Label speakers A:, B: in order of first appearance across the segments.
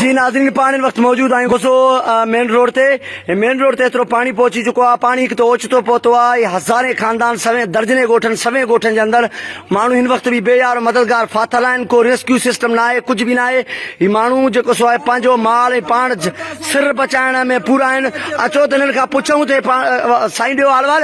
A: جي ناظرين پاڻ هن وقت موجود آهيون ڪوسو مين روڊ تي مين روڊ تي ايترو پاڻي پهچي چڪو آهي پاڻي هڪ ته اوچتو پهتو آهي هزارين خاندان سوين درجنين ڳوٺن سوين ڳوٺن جي اندر ماڻهو هن وقت به بي يار مددگار ڦاٿل آهن ڪو ريسڪيو سسٽم نه آهي ڪجهه به نه آهي هي ماڻهو جيڪو سو آهي پنهنجو مال ۽ پاڻ سر بچائڻ ۾ پورا آهن اچو ته هنن کان پڇون ته سائين ڏيو حال وال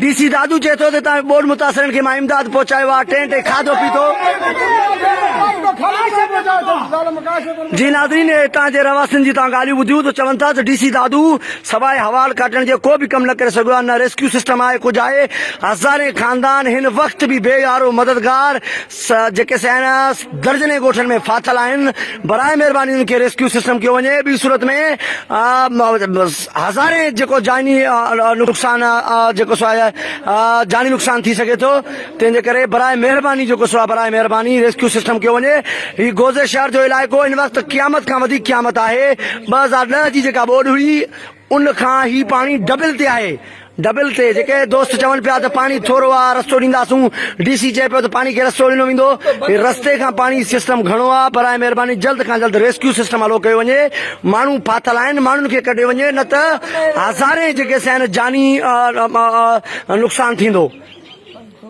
A: ڊي سي دادو چئي ٿو ته تان ٻوڏ متاثرن کي مان امداد پهچايو آهي ٽينٽ ۽ کاڌو پيتو جي ناظرين هتان جي رهواسين جي تان ڳالهيون ٻڌيون ته چون ٿا ته ڊي سي دادو سواء حوال ڪاٽڻ جي ڪو به ڪم نه ڪري سگهيو آهي، نه ريسڪيو سسٽم آهي، ڪجهه آهي، هزارين خاندان هن وقت به بي يارو مددگار جيڪي سيناس درجنين ڳوٺن ۾ ڦاٿل آهن، براء مهرباني انهن کي ريسڪيو سسٽم ڪيو وڃي، ٻي صورت ۾ هزارين جيڪو جاني نقصان جيڪو سو آهي جاني نقصان ٿي سگهي ٿو. تنهن جي ڪري براء مهرباني جيڪو سو آ براء مهرباني ريسڪيو سسٽم ڪيو وڃي هي گوزي شهر جو علائقو هن وقت قيامت کان وڌيڪ قيامت آهي ٻه هزار ڏهه جي جيڪا ٻوڏ هئي ان کان هي پاڻي ڊبل تي آهي ڊبل تي جيڪي دوست چون پيا ته پاڻي ٿورو آ رستو ڏينداسون ڊي سي چئي پيو ته پاڻي کي رستو ڏنو ويندو رستي کان پاڻي سسٽم گهڻو آ براء مهرباني جلد کان جلد ريسڪيو سسٽم هلو ڪيو وڃي ماڻهو ڦاٿل آهن ماڻهن کي ڪڍيو وڃي نه ته هزارين جيڪي سين جاني نقصان ٿيندو